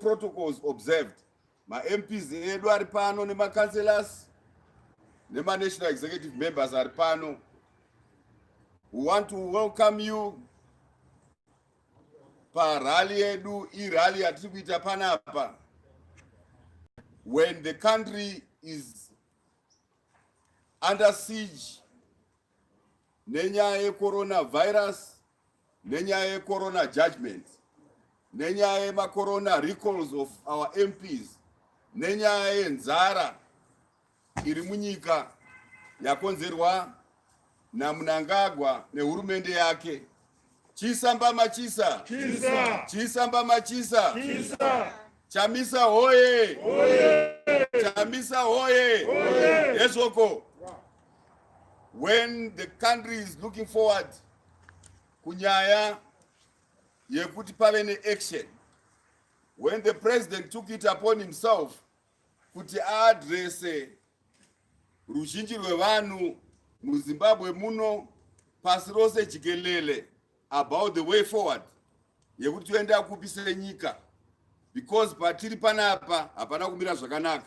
protocols observed mamps edu ari pano nemacancelors nemanational executive members ari pano we want to welcome you parally yedu irally yatiri kuita panapa when the country is under siege nenyaya yecoronavirus nenyaya yecorona judgments nenyaya yemacorona recalls of our mps nenyaya yenzara iri munyika yakonzerwa namunangagwa nehurumende yake chisa mbama chisa chisa, chisa mbama chisa, chisa. chamisa hoye, hoye. chamisa hoye, hoye. hezvoko when the country is looking forward kunyaya yekuti pave neaction when the president took it upon himself kuti aadrese ruzhinji rwevanhu muzimbabwe muno pasi rose jikelele about the way forward yekuti toenda kupi senyika because patiri panapa hapana kumira zvakanaka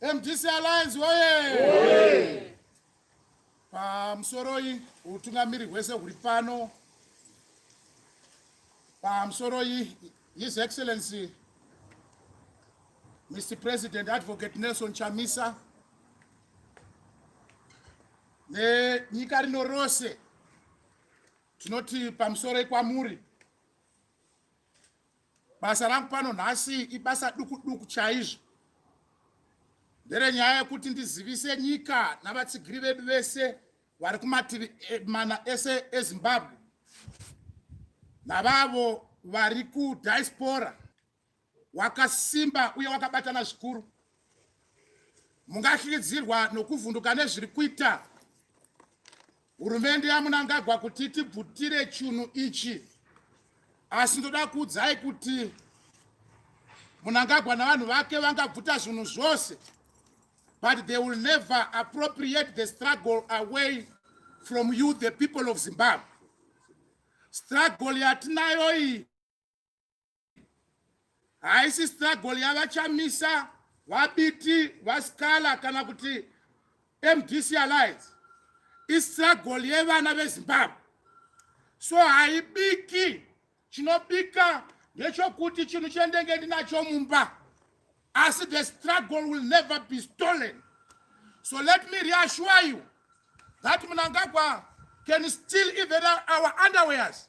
MDC Alliance woye! Pamusoroi utungamiri hwese huri pano. Pamusoroi His Excellency Mr. President Advocate Nelson Chamisa nenyika rino rose tinoti pamusoroi kwamuri basa rangu pano nhasi ibasa duku duku chaizvo nderenyaya yekuti ndizivise nyika navatsigiri vedu vese vari kumativi eh, mana ese ezimbabwe navavo vari kudiaspora wakasimba uye wakabatana zvikuru mungahlikidzirwa nokuvhunduka nezviri kuita Hurumende yaMunangagwa kuti tibvutire chunhu ichi, asi ndoda kuudzai kuti Munangagwa navanhu vake vangabvuta zvinhu zvose but they will never appropriate the struggle away from you the people of Zimbabwe. Struggle yatinayo iyi haisi struggle yavachamisa vabiti vasikala kana kuti mdc alliance istruggle yevana vezimbabwe so haibiki chinobika ndechokuti chinhu chendenge ndinacho mumba asi the struggle will never be stolen so let me reassure you that munangagwa can still even our underwears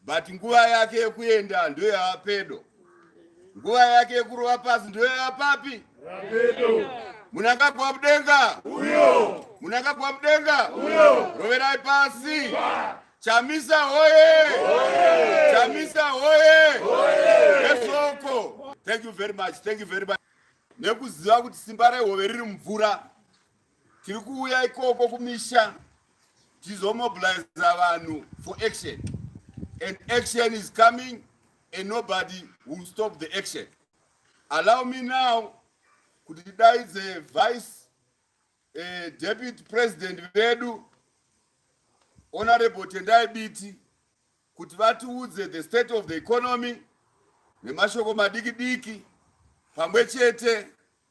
but nguva yake yekuenda ndoyava pedo nguva yake yekurova pasi ndoyava papi pedo munangagwa mudenga uyo munangagwa mudenga uyo roverai pasi Ba. chamisa hoye chamisa hoye esoko thank you very much thank you very much nekuziva kuti simba rehove riri mumvura tiri kuuya ikoko kumisha tizomobilize vanhu for action and action is coming and nobody will stop the action allow me now kuti tidaidze vice uh, deputy president vedu honorable tendai biti kuti vatiudze the state of the economy nemashoko madiki diki pamwe chete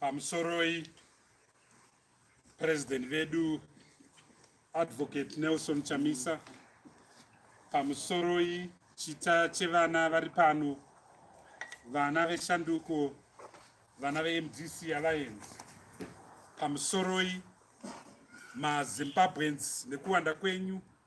pamusoroi president vedu advocate nelson chamisa pamusoroi chita chevana vari pano vana veshanduko vana vemdc alliance pamusoroi mazimbabweans nekuwanda kwenyu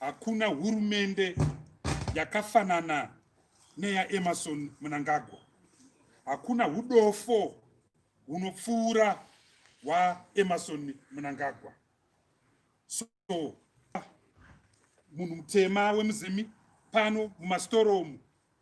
hakuna hurumende yakafanana neyaemerson munangagwa hakuna hudofo hunopfuura hwaemerson munangagwa so munhu mutema wemuzimi pano mumastoromu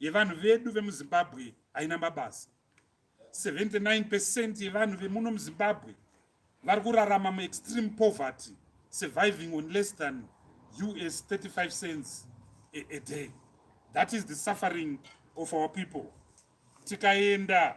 yevanhu vedu vemuzimbabwe haina mabasa 79 percent yevanhu vemuno muzimbabwe vari kurarama muextreme poverty surviving on less than us 35 cents a, a day that is the suffering of our people tikaenda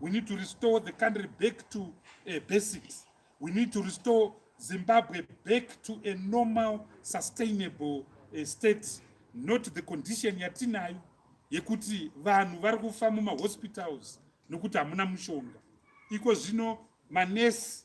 We need to restore the country back to uh, basics. We need to restore Zimbabwe back to a normal sustainable uh, state not the condition yatinayo yekuti vanhu vari kufa mumahospitals nokuti hamuna mushonga iko zvino manesi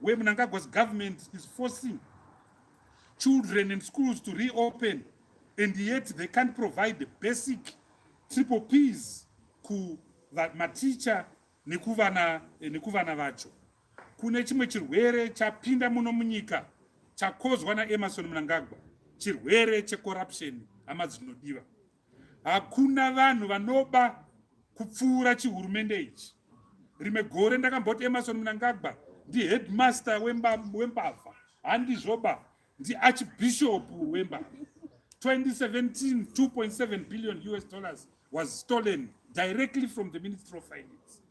Where Mnangagwa's government is forcing children and schools to reopen and yet they can't provide the basic triple P's ku maticha nekuvana eh, nekuvana vacho kune chimwe chirwere chapinda muno munyika chakozwa naemerson mnangagwa chirwere checorruption hama dzinodiva hakuna vanhu vanoba kupfuura chihurumende ichi rimwe gore ndakamboti emarson munangagwa ndiheadmaster wembavha handizvoba ndiarchbishop wembavha 2017 2.7 billion us dollars was stolen directly from the ministry of finance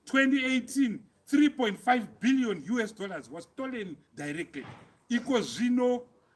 2018 3.5 billion us dollars was stolen directly iko zvino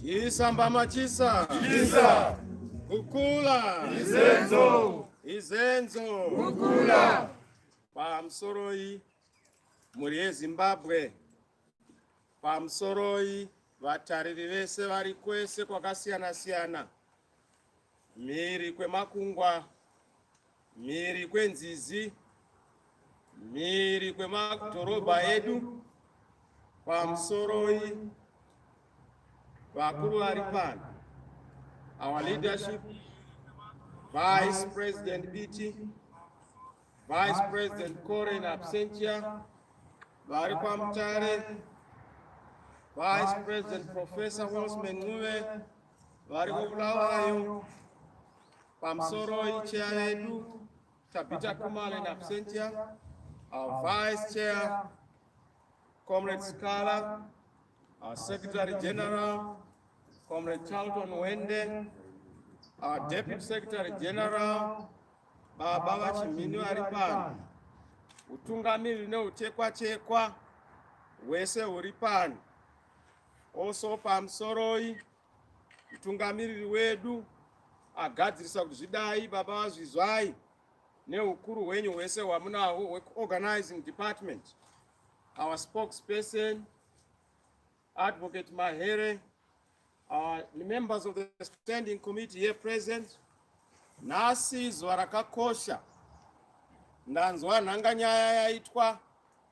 Chisa mbama chisa. Chisa. Kukula. Izenzo. Izenzo. Kukula. Pamusoroi mhuri yeZimbabwe. Pamusoroi vatariri vese vari kwese kwakasiyana siyana. mhiri kwemakungwa, mhiri kwenzizi, mhiri kwemadhorobha edu, pamusoroi vakuru vari pano, our leadership, Vice President Biti, Vice President Kore in absentia, vari kwaMutare, Vice President Professor Osman Ncube, vari kuBulawayo pamusoro icheya yedu Tabita Kumale in absentia our vice chair Comrade Skala our secretary general Comrade Charlton Wende our deputy secretary general baba vachimhini vari pano utungamiri neutekwachekwa hwese huri pano Also pamusoroi mutungamiriri wedu agadzirisa kuti zvidai baba vazvizwai neukuru hwenyu hwese hwamunahwo hweorganizing department our spokesperson advocate mahere our members of the standing committee here present nhasi zuva rakakosha ndanzwa nhanganyaya yaitwa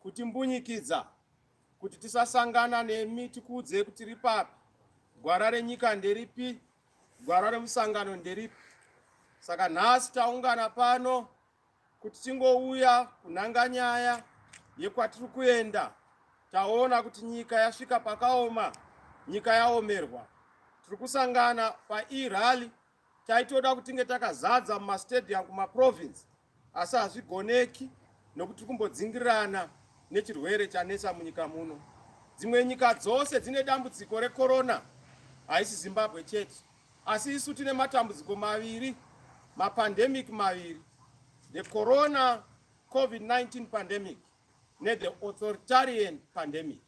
kutimbunyikidza kuti tisasangana nemi tikuudzei kuti tiri papi gwara renyika nderipi gwara remusangano nderipi saka nhasi taungana pano kuti tingouya kunhanga nyaya yekwatiri kuenda taona kuti nyika yasvika pakaoma nyika yaomerwa tiri kusangana paerally taitoda kuti tinge takazadza mumastadium kumaprovince asi hazvigoneki nokuti tiri kumbodzingirirana nechirwere chanetsa munyika muno dzimwe nyika dzose dzine dambudziko rekorona haisi zimbabwe chete asi isu tine matambudziko maviri mapandemic maviri the corona covid-19 pandemic nethe authoritarian pandemic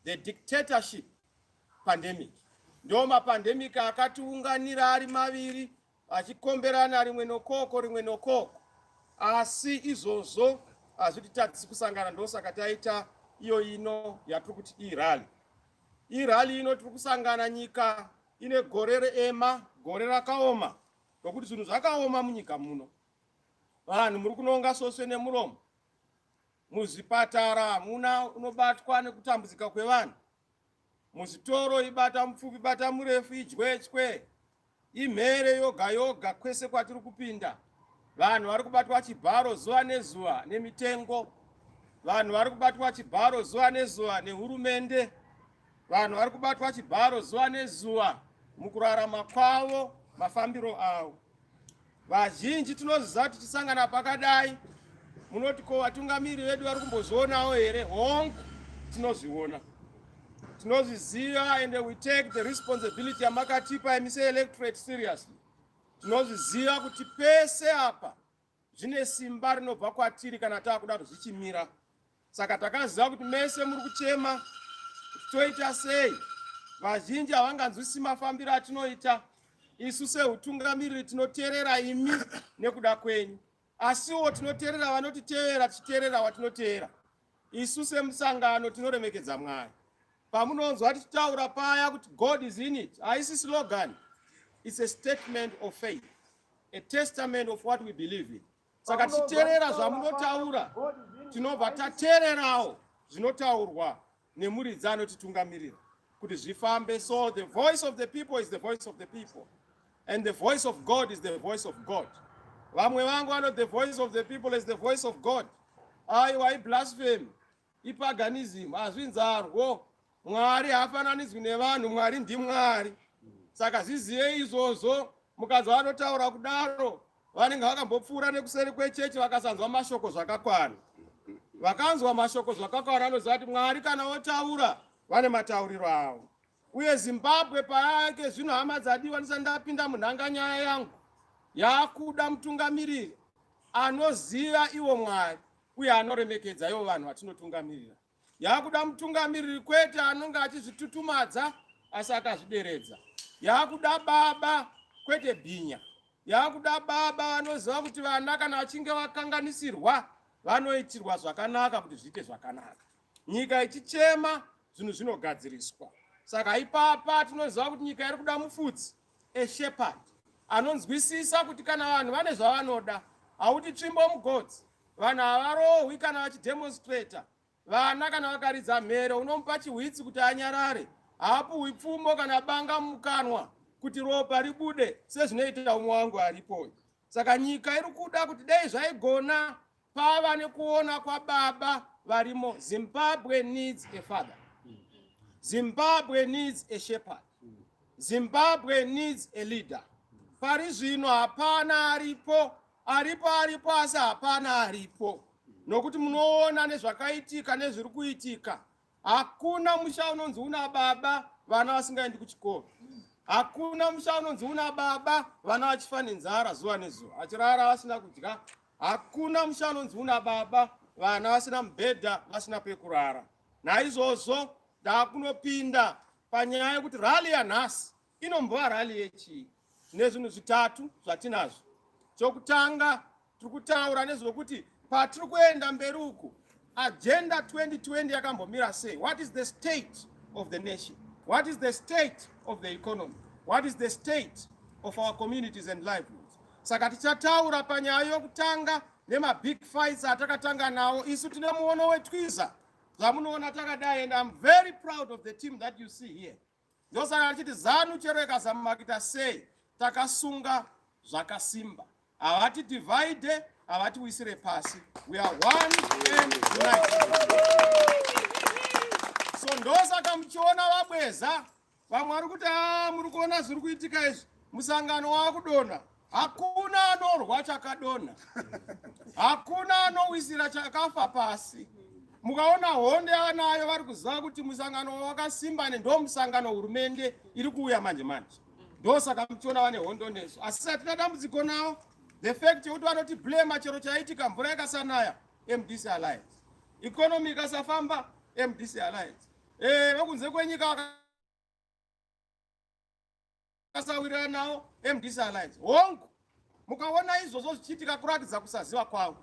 the dictatorship pandemic ndo mapandemic akatiunganira ari maviri achikomberana rimwe nokoko rimwe nokoko asi izvozvo hazvititadzisi kusangana ndosaka taita iyo ino yatiri kuti irali irali ino tiri kusangana nyika ine gore reema gore rakaoma nokuti zvinhu zvakaoma munyika muno vanhu muri kunonga soswe nemuromo muzvipatara hamuna unobatwa nekutambudzika kwevanhu Muzvitoro ibata mupfupi bata murefu idyetswe imhere yoga yoga kwese kwatiri kupinda. Vanhu vari kubatwa chibharo zuva nezuva nemitengo. Vanhu vari kubatwa chibharo zuva nezuva nehurumende. Vanhu vari kubatwa chibharo zuva nezuva mukurarama kwavo mafambiro avo. Vazhinji tinoziva kuti tichisangana pakadai munoti ko vatungamiri vedu vari kumbozvionawo here hongu tinozviona tinozviziva and we take the responsibility yamakatipa emise electorate seriously tinozviziva kuti pese apa zvine simba rinobva kwatiri kana taakudaro zvichimira saka takaziva kuti mese muri kuchema kuti toita sei vazhinji havanganzwisi mafambiro atinoita isu seutungamiriri tinoteerera imi nekuda kwenyu asiwo tinoteerera vanotiteerera tichiteerera watinoteera Isu semusangano tinoremekedza Mwari. Pamunonzwa tichitaura paya kuti God is in it, haisi slogan. It's a statement of faith, a testament of what we believe in. Saka tichiterera zvamunotaura, tinobva tatererawo zvinotaurwa nemuridzi anotitungamirira kuti zvifambe. So the voice of the people is the voice of the people. And the voice of God is the voice of God. Vamwe vangu vano the voice of the people is the voice of God. Aiwa iblasphemy, ipaganism, hazvinzarwo. Mwari haafananidzwi nevanhu, Mwari ndiMwari. Saka zvizive izvozvo, mukadzi vanotaura kudaro, vanenge vakambopfuura nekuseri kwechechi vakasanzwa mashoko zvakakwana. Vakanzwa mashoko zvakakwana anoziva kuti Mwari kana otaura, vane matauriro avo. uye zimbabwe payake zvino hama dzadiwa ndisati ndapinda munhanganyaya yangu yaakuda mutungamiriri anoziva iwo mwari uye anoremekedza ivo vanhu vatinotungamirira yaakuda mutungamiriri kwete anonge achizvitutumadza asi akazvideredza yaakuda baba kwete bhinya yaakuda baba vanoziva kuti vana kana vachinge vakanganisirwa vanoitirwa zvakanaka kuti zviite zvakanaka nyika ichichema zvinhu zvinogadziriswa saka ipapa tinoziva kuti nyika iri kuda mufudzi eshepherd anonzwisisa kuti kana vanhu vane zvavanoda hauti tsvimbo mugodzi vanhu havarohwi kana vachidemonstrata vana kana vakaridza mhere unomupa chihwitsi kuti anyarare haapuhwi pfumo kana banga mukanwa kuti ropa ribude sezvinoita umwe wangu aripo saka nyika iri kuda kuti dai zvaigona pava nekuona kwababa varimo zimbabwe needs a father zimbabwe needs a shepherd zimbabwe needs a leader pari zvino hapana aripo aripo aripo asi hapana aripo nokuti munoona nezvakaitika nezviri kuitika hakuna musha unonzi una baba vana vasingaendi kuchikoro hakuna musha unonzi una baba vana vachifa nenzara zuva nezuva achirara vasina kudya hakuna musha unonzi una baba vana vasina mubhedha vasina pekurara naizvozvo ndakunopinda panyaya yekuti rali yanhasi Inombova rally yechii? Nezvinhu zvitatu zvatinazvo. Chokutanga tiri kutaura nezvekuti patiri kuenda mberi uku agenda 2020 yakambomira sei? What is the state of the nation? What is the state of the economy? What is the state of our communities and livelihoods? Saka tichataura panyaya yokutanga nemabig fights atakatanga nawo isu tine muono wetwiza zvamunoona takadai and I'm very proud of the team that you see here. ndosaka achiti zanu chero ikasamakita sei takasunga zvakasimba havati divide havati wisire pasi we are one and united so ndosaka muchiona vabweza vamwe vari kuti a ah, muri kuona zviri kuitika izvi musangano waakudonha Hakuna anorwa chakadonha, hakuna anowisira chakafa pasi. Mukaona honde anayo vari kuziva kuti musangano wakasimba ne ndo musangano hurumende iri kuuya manje manje, ndosaka muchiona vane hondo nesu, asi hatina dambudziko nawo. The fact yekuti vanoti blema chero chaitika mvura ikasanaya MDC Alliance, economy ikasafamba MDC Alliance, eh, vekunze kwenyika akasawirirana nawo mdc alliance hongu mukaona izvozvo zvichiitika kuratidza kusaziva kwavo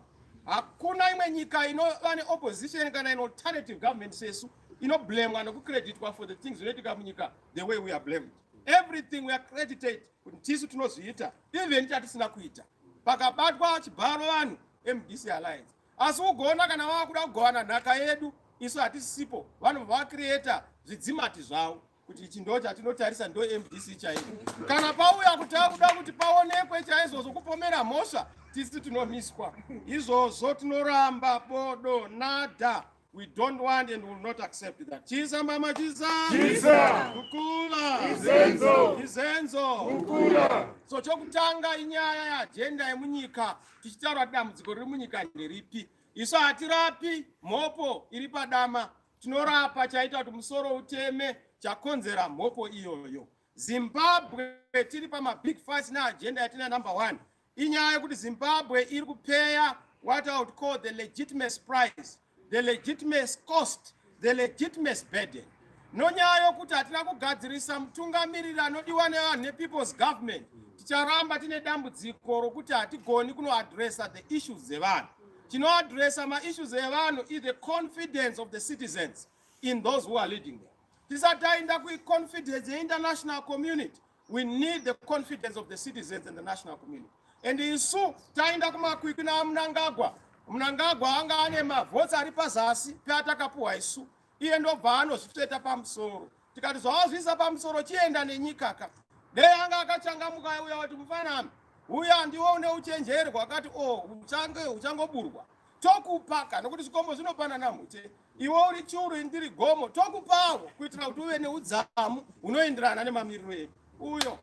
hakuna imwe nyika inova neopposition kana in alternative government sesu inoblamwa nokucreditwa for the things zvinoitika munyika the way we are blamed everything we are credited kuti tisu tinozviita even chatisina kuita pakabatwa chibharo vanhu mdc alliance asi ugoona kana vava kuda kugovana nhaka yedu isu hatisipo vanobva vacreata zvidzimati zvavo kuti ichi ndo chatinotarisa ndo mdc chaiyo kana pauya kuti akuda kuti paonekwe chaizvozvo kupomera mhosva tisu tinomiswa izvozvo tinoramba bodo nada we don't want and will not accept that chisa mama chisa chisa kukula izenzo izenzo kukula so chokutanga inyaya yeajenda yemunyika tichitaura dambudziko riri munyika nderipi isu hatirapi mhopo iri padama Tinorapa chaita kuti musoro uteme chakonzera mhopo iyoyo. Zimbabwe tiri pama big fights na agenda yatina number one. Inyaya yekuti Zimbabwe iri kupeya what I would call the legitimate price, the legitimate cost, the legitimate burden. Nonyaya yokuti hatina kugadzirisa mutungamiriri anodiwa nevanhu nepeople's government. Ticharamba tine dambudziko rokuti hatigoni kunoadressa the issues dzevanhu. tinoadresa maissues evanhu is the confidence of the citizens in those who are leading them tisati tainda kuconfidence yeinternational community we need the confidence of the citizens and the national community and isu tainda kumakwikwi namunangagwa munangagwa anga ane mavhotsi ari pazasi peatakapuhwa isu iye ndobva anozvitsveta pamusoro tikati zvawazviisa pamusoro chienda nenyikaka dei anga akachangamuka uya wati mufanami uya ndiwo une uchenjeri hwakati o oh, uchange uchangoburwa tokupaka nokuti zvikombo zvinopanana mute iwe uri churu indiri gomo tokupawo kuitira kuti uve neudzamu hunoenderana nemamiriro edu uyo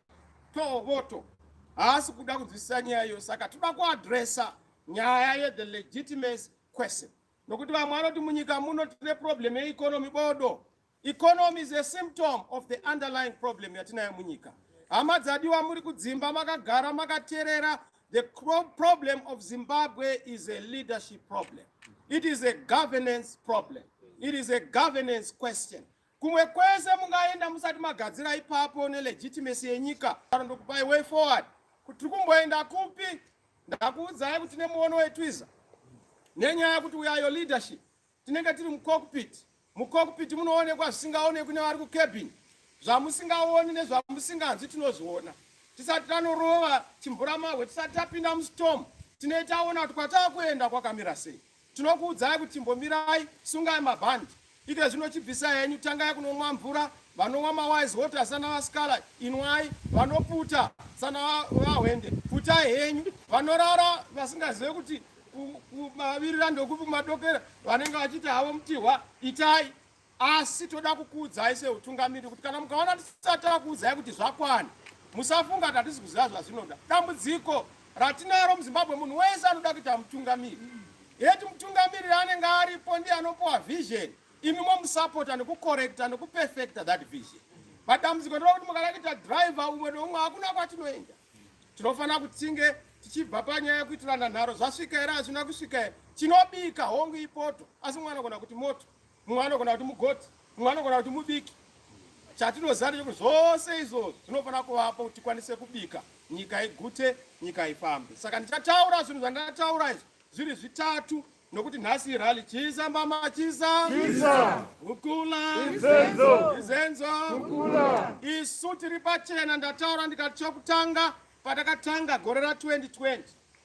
tovoto haasi kuda kunzwisisa nyaya iyo saka toda kuadresa nyaya yethe legitimacy question nokuti vamwe vanoti munyika muno tine problem yeeconomy bodo Economy is a symptom of the underlying problem yatinayo munyika. Hama dzadiwa muri kudzimba makagara makaterera the problem of Zimbabwe is a leadership problem. It is a governance problem. It is a governance question. Kumwe kwese mungaenda musati magadzira ipapo ne legitimacy yenyika. Ndokupai way forward. Kuti kumboenda kupi? Ndakuudzai kuti nemuono wetwiza. Nenyaya kuti we are your leadership. Tinenge tiri mucockpit. Mucockpit munoonekwa zvisingaonekwi nevari kucabin. Zvamusingaoni nezvamusinganzwi tinozviona. Tisati tanorova chimburamahwe, tisati tapinda mustorm, tinenge taona kuti kwatava kuenda kwakamira sei. Tinokuudzai kuti chimbomirai, sungai mabhandi. Ike zvino chibvisa henyu, tangai kunomwa mvura, vanonwa mawise water sana vasikala inwai vanoputa sana vahwende putai henyu vanorara vasingazive kuti kumavirira ndokupi kumadokera vanenge vachiti havo mutihwa itai asi toda kukuudzai seutungamiri kuti kana mukaona tisati takuudzai kuti zvakwana musafunga kuti hatisi kuziva zvazvinoda dambudziko ratinaro muzimbabwe munhu wese anoda kuita mutungamiri yeti mutungamiri anenge aripo ndiye anopiwa vision imi momusapota nekukorekta nekupefekta that vision madambudziko ndokuti mukarakita driver umwe neumwe hakuna kwatinoenda tinofanira kuti tinge tichibva panyaya yekuitirana nharo zvasvika here hazvina kusvika here tinobika hongu ipoto asi mumwe anogona kuti moto mumwe anogona kuti mugoti mumwe anogona kuti mubiki chatinoziva ndechekuti zvose izvo zvinofanira kuvapo kuti tikwanise kubika nyika igute nyika ifambe saka ndichataura zvinhu zvandataura izvi zviri zvitatu nokuti nhasi irali chisa mama chisa chisa ukula izenzo izenzo ukula isu tiri pachena ndataura ndikati chokutanga patakatanga gore ra 2020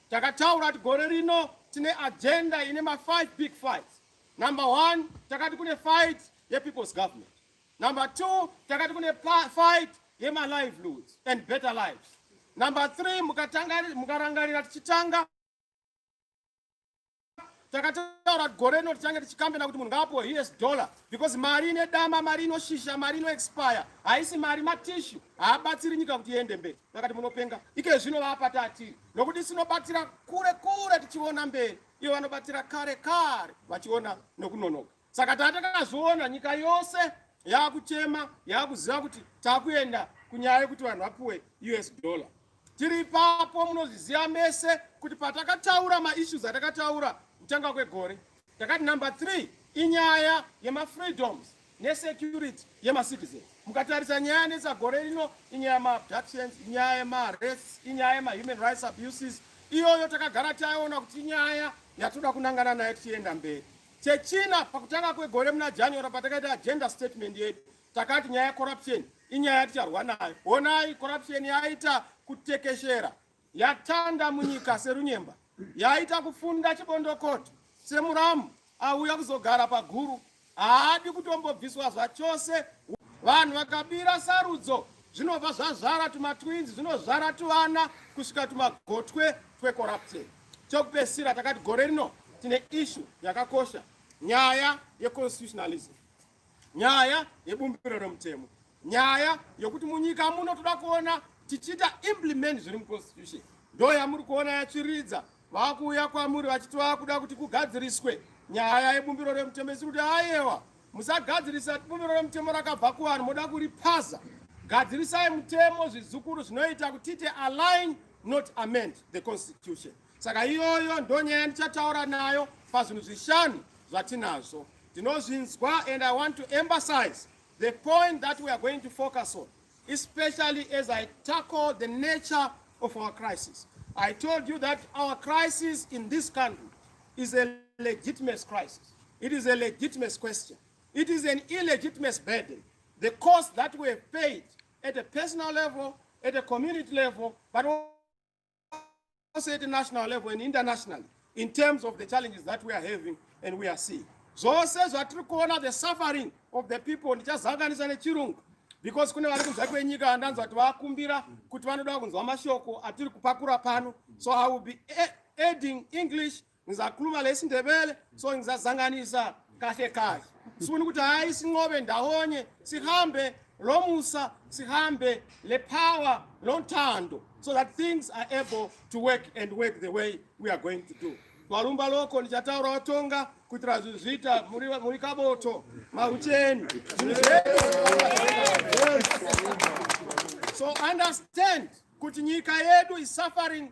takataura kuti gore rino tine agenda ine ma 5 big fights number 1 takati kune fight ye people's government number 2 takati kune fight ye ma livelihoods and better lives number 3 mukarangarira tichitanga takataura gore rino tichange tichikambena kuti munhu ngaapiwe hiyes dollar because mari ine dama mari inoshisha mari inoexpire haisi mari matishu haabatsiri nyika kuti iende mberi takati munopenga ike zvino vaapata atiri nokuti sinobatira kure kure tichiona mberi ivo vanobatira kare kare vachiona nokunonoka saka taa takazoona nyika yose yaakuchema yaakuziva kuti takuenda kunyaya yekuti vanhu vapuwe us dollar tiri ipapo munozviziva mese kuti patakataura maissues atakataura kutanga kwegore takati number three inyaya yemafreedoms nesecurity yemacitizen mukatarisa nyaya yanetsa gore rino inyaya yemaabductions inyaya yemaarrests inyaya yemahuman rights abuses iyoyo takagara taiona kuti inyaya yatoda kunangana nayo tichienda mberi Chechina pakutanga kwegore muna January patakaita agenda statement yedu takati nyaya yecorruption inyaya yaticharwa nayo. Honai corruption yaita kutekeshera yatanda munyika serunyemba yaita kufunda chibondokoto semuramu auya kuzogara paguru haadi kutombobviswa zvachose. Vanhu vakabira sarudzo zvinobva zvazvara tumatwinzi zvinozvara tuvana kusvika tumagotwe twecorruption. Chokupedzisira takati gore rino tine ishu yakakosha, nyaya yeconstitutionalism, nyaya yebumbiro remutemo, nyaya yokuti munyika muno toda kuona tichiita implement zviri muconstitution. Ndo yamuri kuona yatsviridza, vakuuya kwamuri vachiti vakuda kuti kugadziriswe nyaya yebumbiro remutemo, isiri kuti ayewa musagadzirisa bumbiro remutemo rakabva kuvanhu moda kuripaza gadzirisai mutemo zvizukuru zvinoita kuti tiite align not amend the constitution saka iyoyo ndo nyaya yandichataura nayo pazvinhu zvishanu zvatinazvo tinozvinzwa and i want to emphasize the point that we are going to focus on especially as i tackle the nature of our crisis i told you that our crisis in this country is a legitimate crisis it is a legitimate question it is an illegitimate burden the cost that we have paid at a personal level, at a community level, but also at a national level and internationally in terms of the challenges that we are having and we are seeing. zvose zvatiri kuona the suffering of the people ndichazanganisa nechirungu because kune vari kunzwa kwenyika ndanzwa kuti vakumbira kuti vanoda kunzwa mashoko atiri kupakura pano so i will be adding english ngizakhuluma lesi ndebele so ngizazanganisa kahle kahle sifuna ukuthi hayi sinqobe ndawonye sihambe lo musa sihambe le power lo nthando so that things are able to work and work the way we are going to do valumba loko ndichataura watonga kuitira zvinhu zviita muri kaboto marucheni so understand kuti nyika yedu is suffering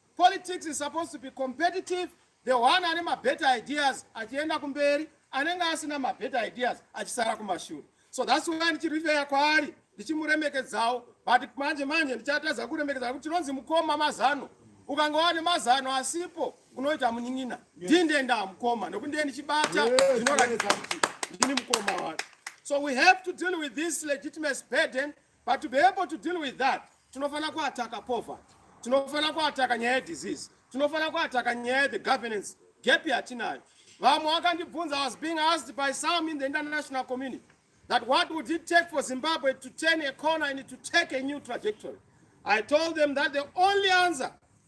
Politics is supposed to be competitive. The one ane mabetter ideas achienda kumberi, anenge asina mabetter ideas achisara kumashure. So that's why ndichirifeya kwaari ndichimuremekedzawo but manje manje ndichatadza kuremekedza kuti tinonzi mukoma mazano ukanga wane mazano asipo unoita munin'ina ndinde ndamukoma nokuti ndiye ndichibata zvinoratidza kuti ndini mukoma wacho so we have to deal with this legitimacy burden but to be able to deal with that tinofanira kuataka poverty tinofanira kuataka nyaya yedisease tinofanira kuataka nyaya yethe governance gap yatinayo vamwe vakandibvunza was being asked by some in the international community that what would it take for zimbabwe to turn a corner and to take a new trajectory i told them that the only answer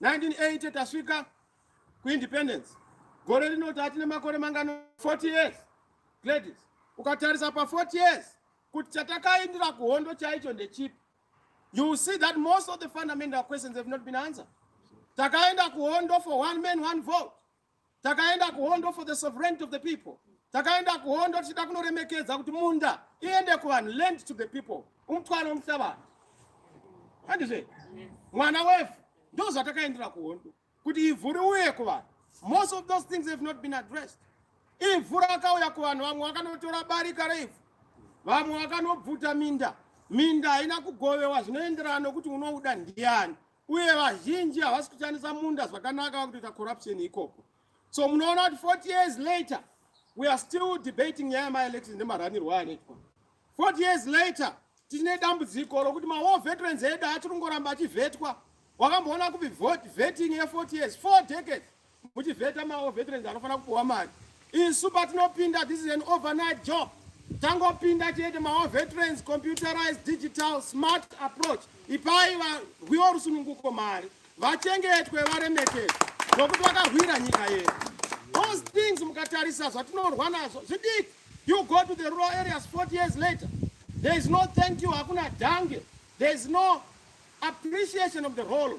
1980 tasvika kuindependence gore rino tati nemakore mangano 40 years gladys ukatarisa pa40 years kuti chatakaindira kuhondo chaicho ndechipi you will see that most of the fundamental questions have not been answered takaenda kuhondo for one man one vote takaenda kuhondo for the sovereignty of the people takaenda kuhondo tichida kunoremekedza kuti munda iende kuvanhu land to the people umutwaro muhlavanhu handizve mwana wefu ndo zvatakaendera kuhondo kuti ivhu riuye kuvanhu most of those things have not been addressed ivhu rakauya kuvanhu vamwe vakanotora barika reivhu vamwe vakanobvuta minda minda haina kugovewa zvinoenderana nokuti unouda ndiani uye vazhinji havasi kushandisa munda zvakanaka vakutoita corruption ikoko so munoona kuti 40 years later we are still debating nyaya yemaelections nemaranirwo anoitwa 40 years later tichine dambudziko rokuti mawar veterans edu achiri kungoramba achivetwa wakamboona kupi vetting ye 40 years four decades muchivheta mawo veterans anofanira kupuwa mari isu patinopinda this is an overnight job tangopinda chete mawo veterans computerized digital smart approach ipai varwiwa rusununguko mari vachengetwe varemekedzwe zvokuti vakahwira nyika yedu those things mukatarisa zvatinorwa nazvo zvidiki you go to the rural areas 40 years later there is no thank you hakuna dhange there is no appreciation of the role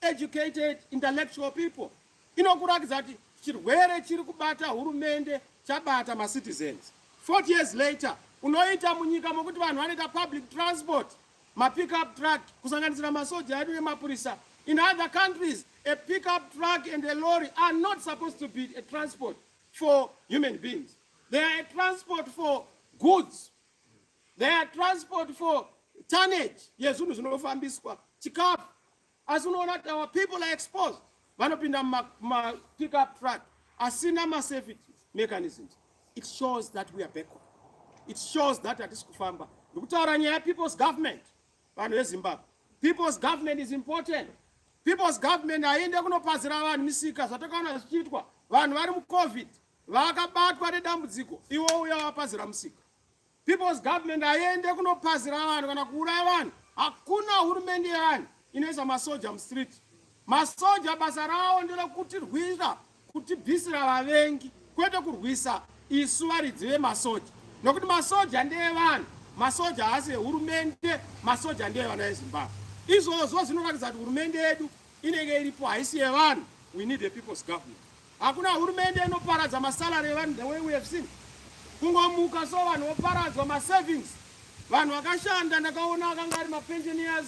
educated intellectual people inokurakidza kuti chirwere chiri kubata hurumende chabata macitizens 40 years later unoita munyika mokuti vanhu vanoita public transport mapickup truck kusanganisira masoja edu nemapurisa in other countries a pickup truck and a lorry are not supposed to be a transport for human beings they are a transport for goods they are transport for tonnage yezvinhu zvinofambiswa chikafu asi unoona kuti our people are exposed vanopinda mapick up truck asina masafety mechanisms it shows that we are backward it shows that hatisi kufamba ndikutaura nyaya yepeople's government vanhu vezimbabwe people's government is important people's government haiende kunopazira vanhu misika zvatakaona zvichiitwa vanhu vari mucovid vakabatwa nedambudziko iwo uya wapazira musika People's government haiende kunopazira vanhu kana kuuraya vanhu. Hakuna hurumende yevanhu inoisa masoja mustreet. Masoja basa rawo nderekutirwira kutibvisira vavengi kwete kurwisa isu varidzi vemasoja nokuti masoja ndeevanhu masoja haasi ehurumende masoja ndeevana vezimbabwe izvozvo zvinoratidza kuti hurumende yedu inenge iripo haisi yevanhu we need a people's government Hakuna hurumende inoparadza masalary evanhu the way we have seen. Kungomuka so vanhu voparadzwa masavings. Vanhu vakashanda ndakaona akanga ari mapensioners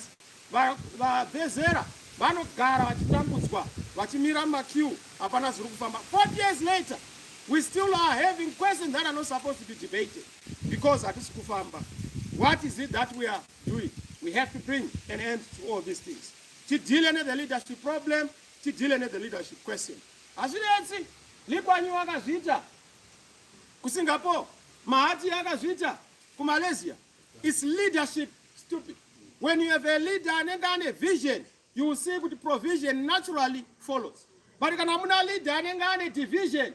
vavezera vanogara vachitambudzwa vachimira mumakiu hapana zviri kufamba 40 years later we still are having questions that are not supposed to be debated because hatisi kufamba what is it that we are doing we have to bring an end to all these things tidile nethe leadership problem tidile ne the leadership question hazvinetsi likwanyi wakazviita kusingapore mahati akazviita kumalaysia its leadership stupid when you have a leader anenge ane vision you will see kuti provision naturally follows but kana muna leader anenge ane division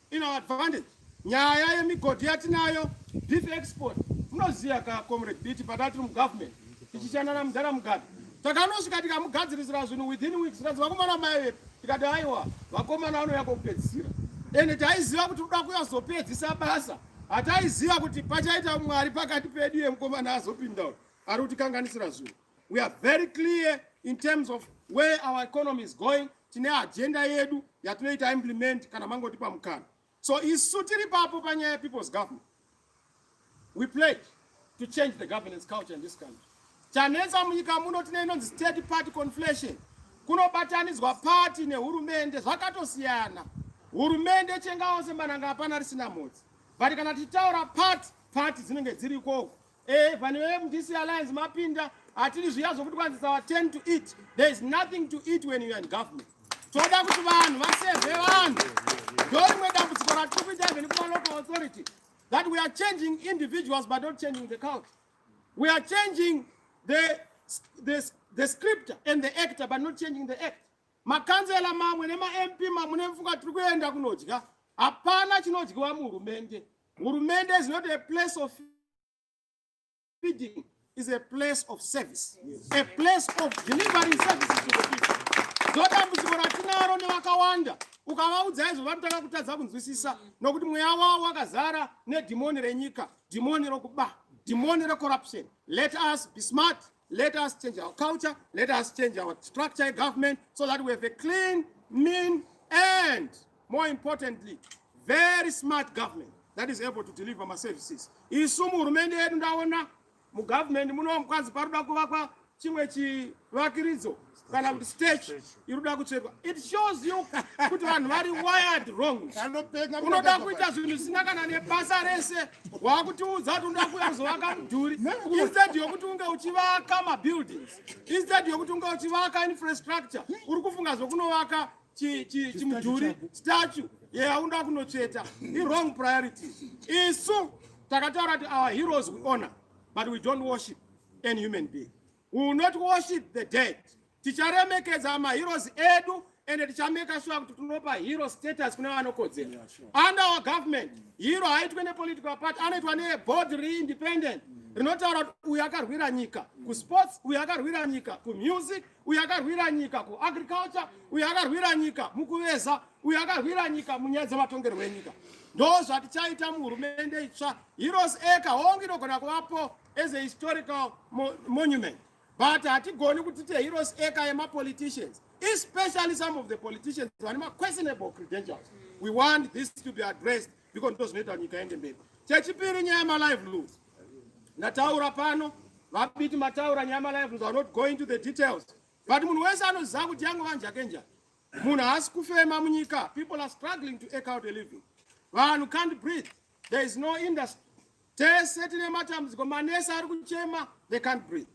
in our advantage nyaya yemigodhi yatinayo beef export munoziva ka comrade biti pataa tiri mugovernment tichishanda namudhara mugabe takanosvika tikamugadzirisira zvinhu within weeks tikazi vakomana mai vepi tikati aiwa vakomana vanouya kokupedzisira ende taiziva kuti kuda kuyazopedzisa basa hataiziva kuti pachaita mwari pakati pedu yemukomana azopinda ari kutikanganisira zvinhu We are very clear in terms of where our economy is going. Tine agenda yedu yatinoita implement kana mangotipa mukana. So isu tiri papo panyaya ya people's government. We pledge to change the governance culture in this country. Chanetsa munyika muno tine inonzi state party conflation. Kunobatanidzwa party nehurumende zvakatosiyana. Hurumende chengawo semananga hapana risina mhodzi. But kana tichitaura party, party dzinenge dziriko Eh, pane veve mudc alliance mapinda hatiri zviya zvokuti kwanzi sawa 10 to eat there is nothing to eat when you are in government toda kuti vanhu vasevhe vanhu ndorimwe dambudziko ratiri kuita even kumalocal authority that we are changing individuals but not changing the culture we are changing the, the, the scripter and the actor but not changing the act makanzela mamwe nemamp mamwe nemfunga tiri kuenda kunodya hapana chinodyiwa muhurumende Hurumende is not a place of feeding, is a place of service, yes. a place of delivering services to the people. Ndodambudziko ratinaro nevakawanda ukavaudza izvo vanotanga kutadza kunzwisisa nokuti mweya wavo wakazara nedhimoni renyika, dhimoni rokuba, dhimoni recorruption. Let us be smart. Let us change our culture, let us change our structure of government so that we have a clean, mean, and more importantly, very smart government that is able to deliver my services. Isu muhurumende yedu ndaona mugovernment muno mukwanzi paroda kuvakwa chimwe chivakiridzo kana kuti stage inoda kutsvetwa it shows you kuti vanhu vari wired wrong unoda kuita zvinhu zvisina kana nebasa rese wakutiudza kuti unoda kuuya kuzovaka mudhuri instead yokuti unge uchivaka mabuildings instead yokuti unge uchivaka infrastructure uri kufunga zvokunovaka chimudhuri statue yaunoda kunotsveta iwrong priorities isu takataura kuti our heroes we honor but we don't worship any human being We will not worship the dead. Ticharemekedza maheroes edu and tichameka sure kuti tinopa hero status kune vanokodzera. Yeah, sure. Under our government, hero haitwe nepolitical party, anoitwa neboard reindependent mm. rinotaura kuti uyu akarwira nyika mm. kusports, uyu akarwira nyika kumusic, uyu akarwira nyika kuagriculture, uyu akarwira nyika mukuveza, uyu akarwira nyika munyaya dzematongerwo enyika. Ndozvatichaita muhurumende itsva. Heroes Acre hongu inogona kuvapo as a historical mo monument but hatigoni kuti teheroes eka yemapoliticians especially some of the politicians vane maquestionable credentials we want this to be addressed because ndo zvinoita nyika yende mberi chechipiri nyaya yemaliveloods ndataura pano vabiti mataura nyaya yemaliveloods are not going to the details but munhu wese anoziva kuti yange vanjake njani munhu haasi kufema munyika people are struggling to eke out a living vanhu can't breathe There is no industry. Tese tine matambudziko manesi ari kuchema they can't breathe.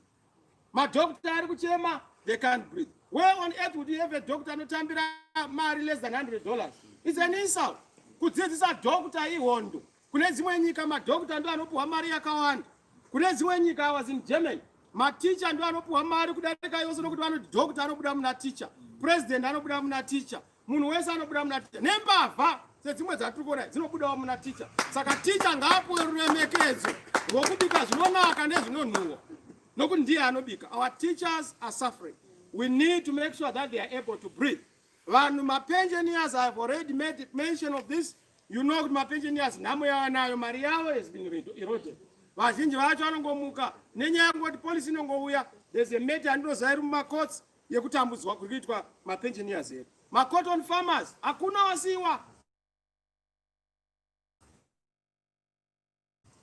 Madokta ari kuchema they can't breathe. Where on earth would you have a doctor anotambira mari less than 100 dollars? It's an insult. Kudzidzisa doctor ihondo. Kune dzimwe nyika madokta ndo anopuwa mari yakawanda. Kune dzimwe nyika I was in Germany. Maticha ndo anopuwa mari kudarika yose nokuti vanoti doctor anobuda muna teacher. President anobuda muna teacher. munhu wese anobuda muna ticha nembavha sedzimwe dzatiri kuona dzinobudawo muna ticha saka ticha ngaapuwe ruremekedzo rwokubika zvinonaka nezvinonhuwa nokuti ndiye anobika our teachers are suffering we need to make sure that they are able to breathe vanhu mapensioners i have already made mention of this you know kuti mapensioners nhamo yavanayo mari yavo has been eroded vazhinji vacho vanongomuka nenyaya yekungoti polisi inongouya there's a matter andinozairi mumacourts yekutambudzwa kuri kuitwa mapensioners here macotton farmers hakuna wasiwa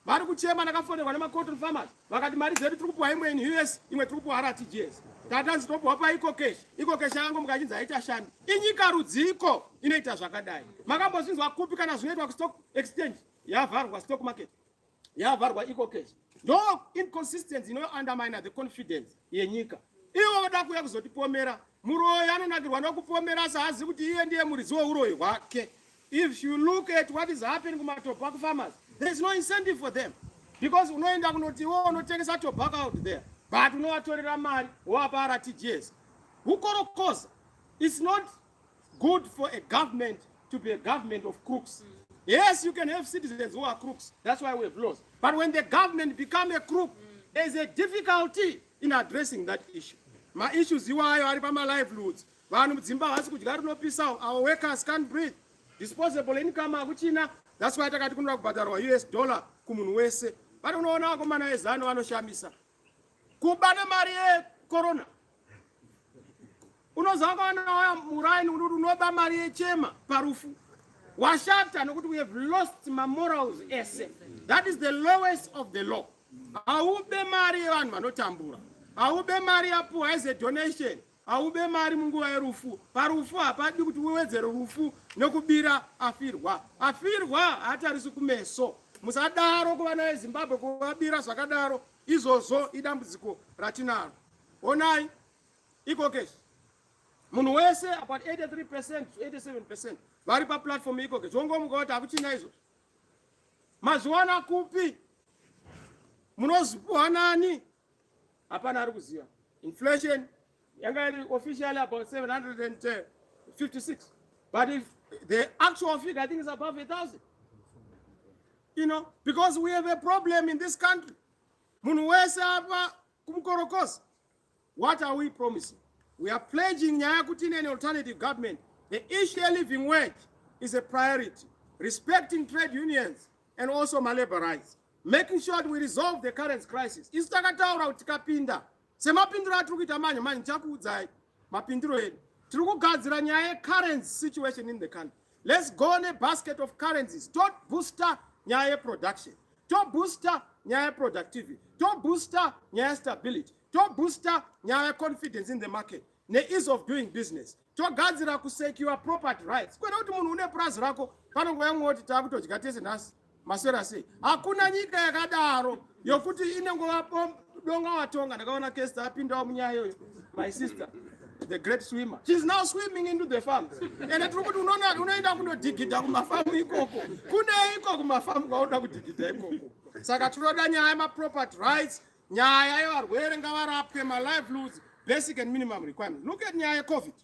vari kuchema ndakafonerwa nemacotton farmers vakati mari dzedu tiri kupuwa imwe in us imwe tiri kupuwa rtgs tatanzi topuwa paiko kesh iko kesh yangu mukachinzi haita shandi inyika rudziko inoita zvakadai makambozvinzwa kupi kana zvinoitwa kustock exchange yavharwa stock market yavharwa iko case ndo inconsistency ino undermine the confidence yenyika ivo voda kuuya kuzotipomera muroyi anonakirwa nokupomera asi haazivi kuti iye ndiye muridzi weuroyi hwake if you look at what is happening kumatobacco farmers there is no incentive for them because unoenda kunoti iwo unotengesa tobacco out there but unovatorera mari woapa rtgs ukorokoza its not good for a government to be a government of crooks. Mm. Yes, you can have citizens who are crooks. That's why we have laws. But when the government become a crook, mm. there is a difficulty in addressing that issue. My issues you are ari pama livelihoods. Vanhu mudzimba havasi kudya rinopisawo. Our workers can't breathe. Disposable income akuchina. That's why takati kunoda kubhadharwa US dollar kumunhu wese. But unoona vakomana vezano vanoshamisa. Kubana mari yekorona unozakawana waya muraini unoti unoba mari yechema parufu washata nokuti we have lost mamorals ese that is the lowest of the law haube mari yevanhu vanotambura haube mari yapuwa as a donation haube mari munguva yerufu parufu hapadi kuti uwedzere rufu nokubira afirwa afirwa haatarisi kumeso musadaro kuvana vezimbabwe kuvabira zvakadaro izvozvo idambudziko ratinaro Onai iko case munhu wese apa 83 percent 87 percent vari paplatform iko case wongomuka kuti hakuchina izvo mazviwana kupi munozipuhwa nani hapana ari kuziva inflation yanga iri officially about 756 but if the actual figure i think is above a thousand you know because we have a problem in this country munhu wese apa kumukorokoza what are we promising we are pledging nyaya yekuti in an alternative government the issue a living wage is a priority respecting trade unions and also malabor rights making sure that we resolve the current crisis isu takataura kuti tikapinda semapindiro atiri kuita manje manje ndichakuudzai mapindiro edu tiri kugadzira nyaya yecurrent situation in the country let's go nebasket of currencies tot booster nyaya yeproduction tobooster nyaya yeproductivity tobooster nyaya yestability tobooster nyaya yeconfidence in the market neease of doing business togadzira kusecure property rights kwete kuti munhu une purazi rako panonguva yamwe woti taakutodya tese nhasi maswera sei hakuna nyika yakadaro yokuti inongova Donga watonga ndakaona Kester apindawo munyaya iyoyo my sister the great swimmer she's now swimming into the farm ende tiri kuti unoona unoenda kunodhigidha kumafamu ikoko kune iko kumafamu kwaunoda kudhigidha ikoko saka tinoda nyaya yemaproperty rights nyaya yevarwere ngavarapwe malivelihoods basic and minimum requirement look at nyaya yecovid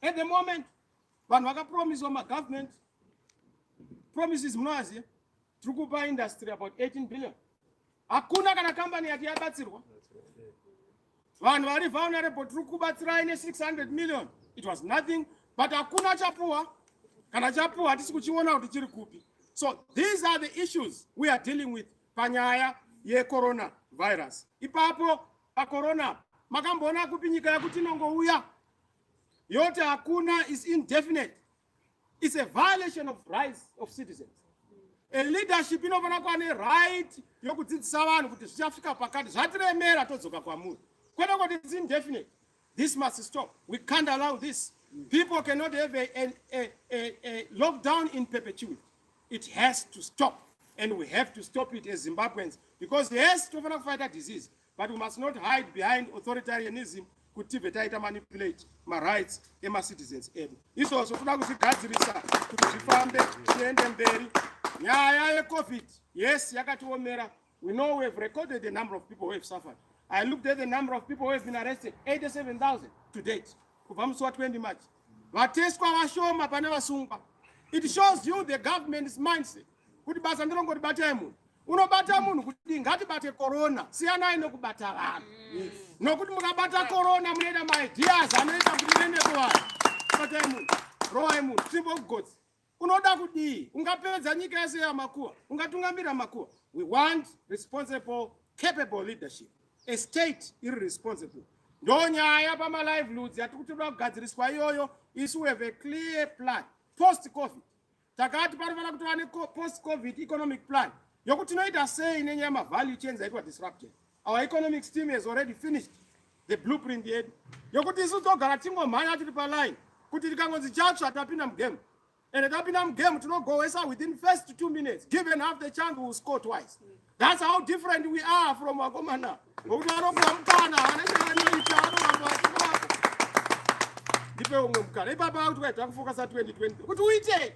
at the moment vanhu vakapromiswa magovernment promises munoaziva tiri kupa industry about 18 billion hakuna kana kambani yati yabatsirwa vanhu vari vulnerable tiri kubatsirai ne 600 million it was nothing but hakuna chapuwa kana chapuwa hatisi kuchiona kuti chiri kupi so these are the issues we are dealing with panyaya yecorona virus ipapo pacorona makamboona kupi nyika yakuti inongouya yote hakuna is indefinite is a violation of rights of citizens a leadership inofanira kuva neright yokudzidzisa vanhu kuti zvichasvika pakati zvatiremera todzoka kwamuri kwete kuti its indefinite this must stop we can't allow this people cannot have a, a, a, a, a lockdown in perpetuity it has to stop and we have to stop it as zimbabweans because yes tofanira kufaita disease but we must not hide behind authoritarianism kuti tibve taita manipulate marights emacitizens edu izvozvo toda kuzvigadzirisa kuti zvifambe tiende mberi nyaya yecovid yes yakatiomera we know we have recorded the number of people who have suffered i looked at the number of people who have been arrested 87000 to date kubva musi wa 20 march vateswa vashoma pane vasungwa it shows you the government's mindset kuti basa ndilongoti batai munhu unobata munhu kuti ngatibate korona siyanai nokubata vanhu mm. nokuti mukabata korona munoita maideas anoita kuti muende kuvanhu batai munhu roai munhu simple gods unoda kudii ungapedza nyika yese yamakuwa ungatungamira makuwa we want responsible capable leadership a state iri responsible ndo nyaya pamalivelihoods yatiri kuti toda kugadziriswa iyoyo isu we have a clear plan post covid takati panofanira kutova nepost covid economic plan yokuti tinoita sei nenyaya yemavalue chains aitwa disrupted our economic steam has already finished the blueprint yedu yokuti isu togara tingomhanya tiri paline kuti tikangonzi chatsva tapinda mugame and tapinda mugame tinogohwesa within first two minutes given half the chance will score twice That's how different we are from vakomana. Ngokuti vanopuwa mukana havana chavanoita vanoramba vachirapa. Ndipe umwe mukana. Ipapa vakuti kwai takufokasa 2020 kuti uite.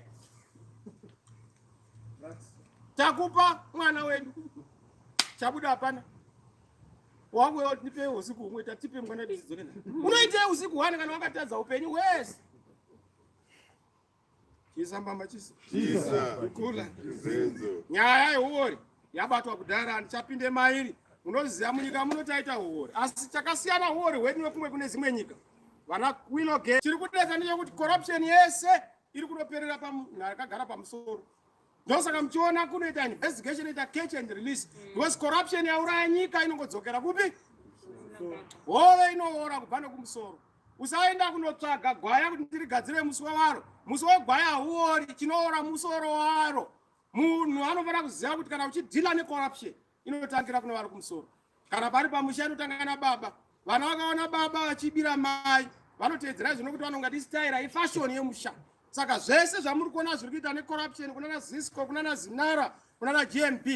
Takupa mwana wedu. Chabuda hapana. Wangu wewe nipe usiku umwe tatipe mwana wedu zidzoke. Unoita usiku hwana kana wakatadza upenyu wese. Chisa mama chisa. Chisa. Kukula. Zenzo. Nyaya yehuori yabatwa kudhara handichapinde mairi. Munoziva munyika muno taita huori. Asi chakasiyana huori hwedu nekumwe kune dzimwe nyika. Vana Queen Oge. Chiri kudetsa ndechekuti corruption yese iri kunoperera pamunhu pamusoro. Ndosaka muchiona kunoita investigation ita catch and release. Mm. Because corruption yauraya nyika inongodzokera kupi? Hove inoora kubva nekumusoro. usaenda kunotsvaga gwaya kuti ndirigadzire musoro waro musoro wegwaya hauori chinoora musoro waro munhu anofanira kuziva kuti kana uchidhila necorruption inotangira kune vari kumusoro kana pari pamusha inotanga nababa vana vakaona baba vachibira mai vanoteedzera zvino kuti vanonga tisitaira ifashoni yemusha saka zvese zvamuri kuona zviri kuita necorruption kunana zisco kunana zinara kunana gmb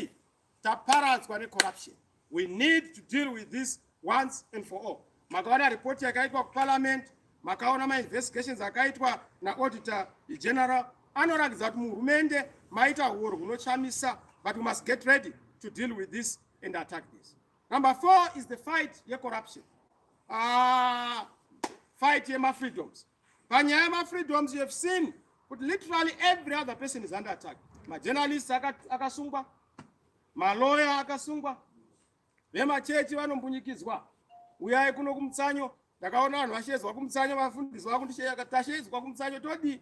Taparadzwa ne corruption. We need to deal with this once and for all. Makaona report yakaitwa ku parliament, makaona ma investigations akaitwa na auditor general anoratidza kuti muhurumende maita huoro hunochamisa but we must get ready to deal with this and attack this. Number four is the fight ye corruption. Uh, fight ye ma freedoms. panyaya yemafreedoms you have seen kuti literally every other person is under attack majournalist akasungwa maloya akasungwa vemachechi vanombunyikidzwa uyai kuno kumutsanyo ndakaona vanhu vashedzwa kumutsanyo vafundisi vakunditashedzwa kumutsanyo todii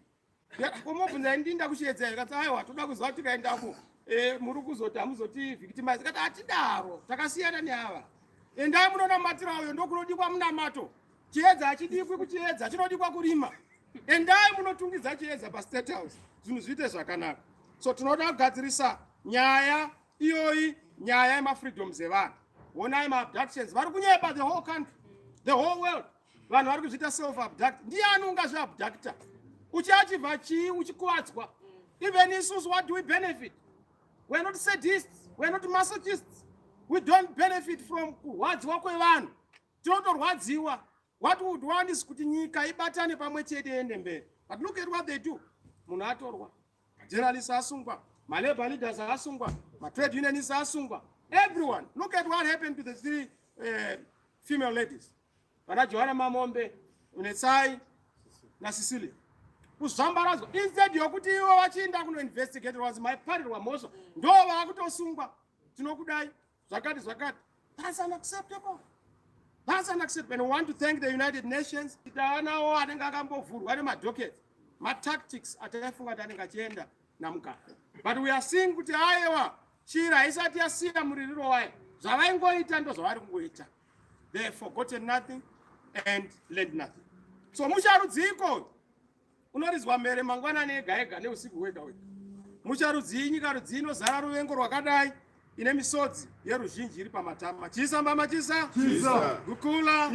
komobvunza ndii ndakushedza here kati aiwa toda kuziva kuti tikaendako eh, muri kuzoti hamuzoti victimize kati hatidaro takasiyana neava endai munonamatira uyo ndokunodikwa munamato Chiedza hachidikwi kuchiedza, chinodikwa kurima. Endai munotungidza chiedza paState House, zvinhu zviite zvakanaka. So tinoda kugadzirisa nyaya iyoyi, nyaya yemafreedoms evanhu. Honai maabductions, vari kunyepa the whole country, the whole world. Vanhu vari kuzviita self abduct. Ndiani ungazviabducta? Uchiachivha chii uchikuvadzwa? Even isusu what do we benefit? We're not sadists, we're not masochists. We don't benefit from kurwadziwa kwevanhu. totorwadziwa what would one is kuti nyika ibatane pamwe chete yende mberi but look at what they do munhu atorwa majournalist asungwa malabor leaders asungwa matrade unionist asungwa everyone look at what happened to the three uh, female ladies vana johana mamombe unetsai nasicilia kuzvambaradzo instead yokuti ivo vachiinda kunoinvestigate was my party wamhosva ndo vakutosungwa tinokudai zvakati zvakati that's unacceptable that's unacceptable and we want to thank the united nations taanawo anenge akambovhurwa nemadocket matactics ataifunga kuti anenge achienda namugabe but we are seeing kuti ayewa chira haisati yasiya muririro wayo zvavaingoita ndo zvavari kungoita they forgotten nothing and learned nothing so musharudziko unorizwa mhere mangwanani ega ega neusiku hwega hwega mucharudzii nyika rudzii inozara ruvengo rwakadai ine misodzi yeruzhinji iri pamatama chisa mbama chisa gukula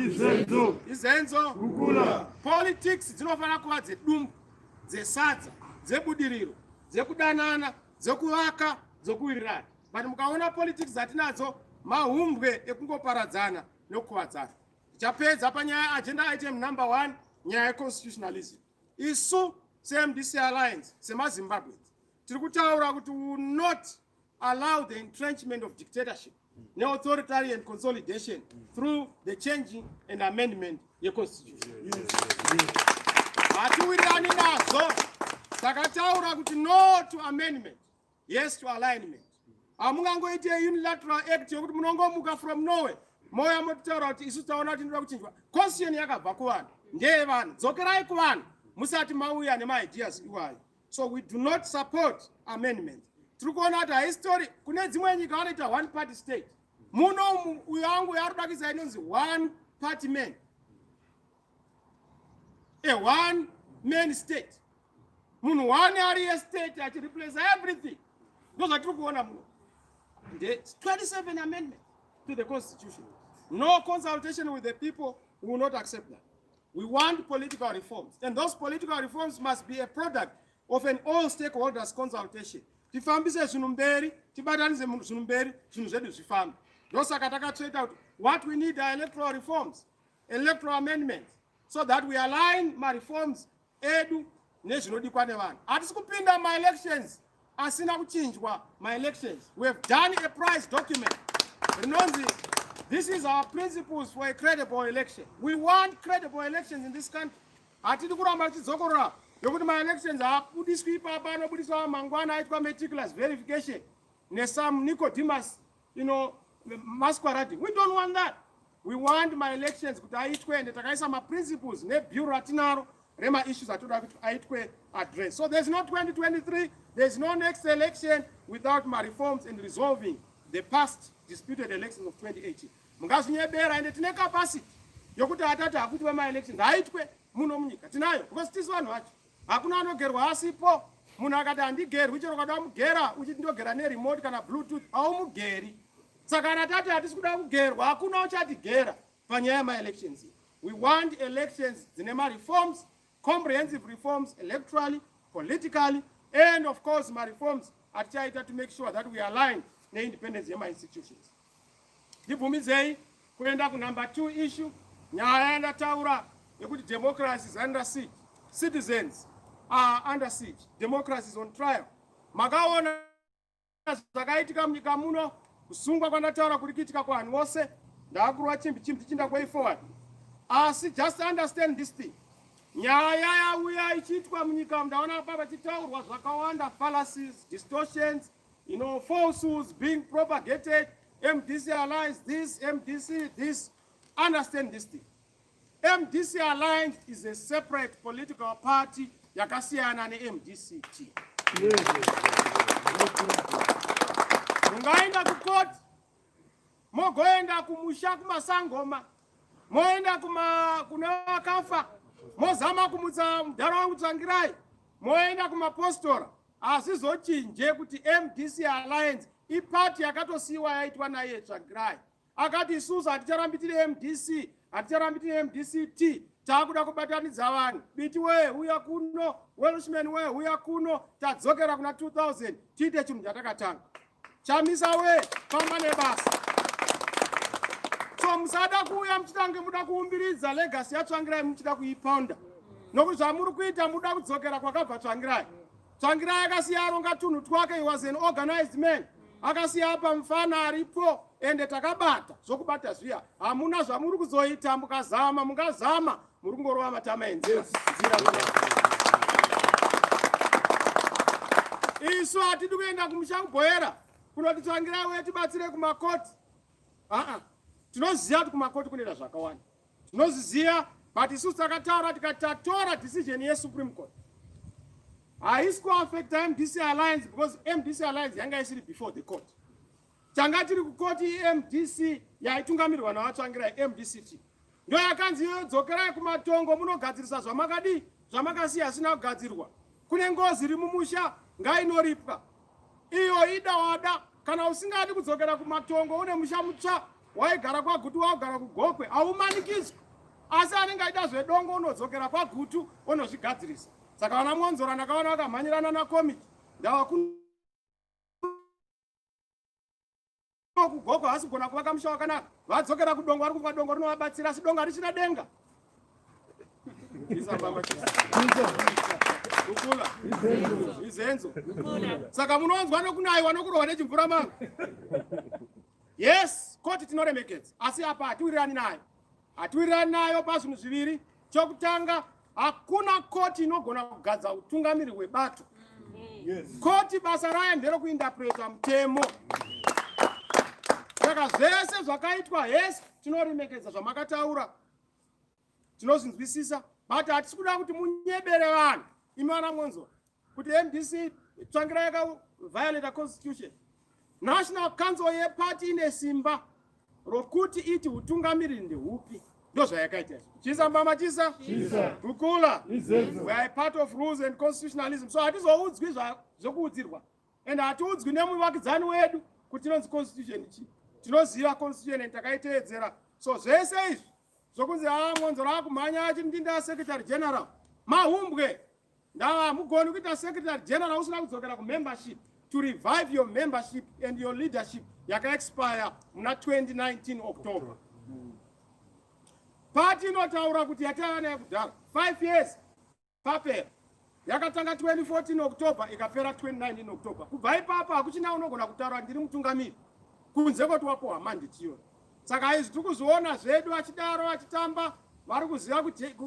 izenzo politics dzinofanira kuva dzedumbu dzesadza dzebudiriro dzekudanana dzekuvaka dzokuwirirana but mukaona politics dzatinadzo mahumbwe ekungoparadzana nokukuvadzana Tichapedza panyaya agenda item number one nyaya yeconstitutionalism. Isu seMDC Alliance semaZimbabweans tiri kutaura kuti we will not allow the entrenchment of dictatorship neauthoritarian consolidation through the changing and amendment yeconstitution. Hatiwirirani nazvo takataura kuti no to amendment yes to alignment hamungangoite unilateral act yokuti munongomuka from norway mouya mototaura kuti isu taona kuti inoda kuchinjwa constitution yakabva kuvanhu ndeye vanhu dzokerai kuvanhu musati mauya nemaideas iwayo so we do not support amendment tiri kuona kuti haistori kune dzimwe nyika vanoita one party state muno uyo wangu yaari kudakisa inonzi one party man a one man state munhu one ari estate achireplace everything ndozvatiri kuona muno the 27 amendment to the constitution no consultation with the people will not accept that we want political reforms and those political reforms must be a product of an all stakeholders consultation tifambise zvinhu mberi tibatanise zvinhu mberi zvinhu zvedu zvifambe ndosaka takatsveta kuti what we need are electoral reforms electoral amendments so that we align mareforms edu nezvinodikwa nevanhu hatisi kupinda maelections asina kuchinjwa maelections we have done a price document rinonzi this is our principles for a credible election we want credible elections in this country hatidi kuramba tichidzokorora yokuti maelections haabudiswi ipapa anobudiswa mangwana aitwa meticulous verification nesome nicodemus you know masquerade we don't want that we want my elections kuti aitwe ende takaisa maprinciples nebureau ratinaro remaissues atoda kuti aitwe address so there's no 2023 there's no next election without mareforms and resolving the past disputed elections of 2018 mungazvinyebera ende tine capacity yokuti atati akuti vemaelections aitwe muno munyika tinayo because tisu vanhu vacho hakuna anogerwa asipo munhu akati handigerwi chero ukada mugera uchiti ndogera neremote kana bluetooth haumugeri saka kana tati hatisi kuda kugerwa hakuna uchatigera panyaya yemaelections we want elections dzine mareforms comprehensive reforms electorally politically and of course mareforms atichaita to make sure that we align neindependence yemainstitutions Ndibvumidzei kuenda kunumber two issue nyaya yandataura yekuti democracy is under siege citizens are under siege democracy is on trial makaona zvakaitika munyika muno kusungwa kwandataura kuri kuitika kuvanhu vose ndakurwa chimbi chimbi tichinda kwei forward asi just understand this thing nyaya yauya ichiitwa munyika ndaona pava chitaurwa zvakawanda fallacies distortions You know, falsehoods being propagated, MDC Alliance, this, MDC, this. Understand this thing. MDC Alliance is a separate political party yakasiyana neMDCT. Mungaenda kukoti mogoenda kumusha kumasangoma moenda kuma kuna vakafa mozama kumutsa mudhara wangu tsvangirai moenda kumapostora hazvizochinje kuti mdc alliance ipati yakatosiyiwa yaitwa naiye tsvagirai akati isusu haticharambi tiri mdc haticharambi tiri mdc t taakuda kubatanidza vanhu biti wee huya kuno welshman wee huya kuno tadzokera kuna 2000 tiite chinhu chatakatanga chamisa we famba nebasa so musada kuuya muchitange muda kuumbiridza legasi yatsvangirai muchida kuiponda nokuti zvamuri kuita muda kudzokera kwakabva tsvangirai tsvangirai akasiya aronga tunhu twake was an organized man akasiya apa mufana aripo ende takabata zvokubata zviya hamuna zvamuri kuzoita mukazama mungazama muri kungorova matama enzira isu hatidi kuenda kumusha kubhoyera kunoti tsvangirai uye tibatsire kumakoti aa tinoziva kuti kumakoti kunoita zvakawanda tinozviziva but isu takataura tikati tatora decision yesupreme court haisi kuaffecta mdc alliance because mdc alliance yanga isiri before the court tanga tiri kukoti mdc yaitungamirwa naVaTsvangirai mdct ndo yakanzi iyoyo dzokerai kumatongo munogadzirisa zvamakadii zvamakasiya asina kugadzirwa kune ngozi iri mumusha ngainoripwa iyo ida wada kana usingadi kudzokera kumatongo une musha mutsva waigara kwagutu waugara kugokwe haumanikidzwi asi anenge aida zvedongo unodzokera kwagutu onozvigadzirisa saka vana mwonzora ndakaona vakamhanyirana nakomiki ndava kugogo haasi kugona kuvaka musha wakanaka vadzokera kudongo vari kuva dongo rinovabatsira asi dongo harichina denga ukula izenzo saka munonzwa nokunaiwa nokurohwa nechimvura mangu yes koti tinoremekedza asi apa hatiwirirani nayo Hatiwirirani nayo pazvinhu zviviri. Chokutanga, hakuna koti inogona kugadza utungamiri hwebato. Yes. Koti basa rayo nderokuindapreta mutemo. Saka zvese zvakaitwa hesi tinoremekedza zvamakataura tinozvinzwisisa but hatisi kuda kuti munyebere vanhu imi vana mwonzora kuti mdc tsvangira yakaviolata constitution national council yeparty ine simba rokuti iti utungamiriri ndehupi ndozvayakaita izvo chisa mbama chisa kukula we are part of rules and constitutionalism so hatizoudzwi zvokuudzirwa and hatiudzwi nemuvakidzani wedu kuti tinonzi constitution chii tinoziva constitution and takaiteedzera so zvese izvi zvokunzi haa ah, mwanzoro akumhanya achindinda secretary general mahumbwe Ndaa mugoni kuita secretary general usina kudzokera kumembership to revive your membership and your leadership yakaexpire muna 2019 october pati inotaura kuti yataiva nayo kudhara 5 years papera yakatanga 2014 october ikapera 2019 october kubva ipapo hakuchina unogona kutaura ndiri mutungamiri kunze koti wapohwa manditi iyoyo saka izvi tiri kuzviona zvedu achidaro achitamba vari kuziva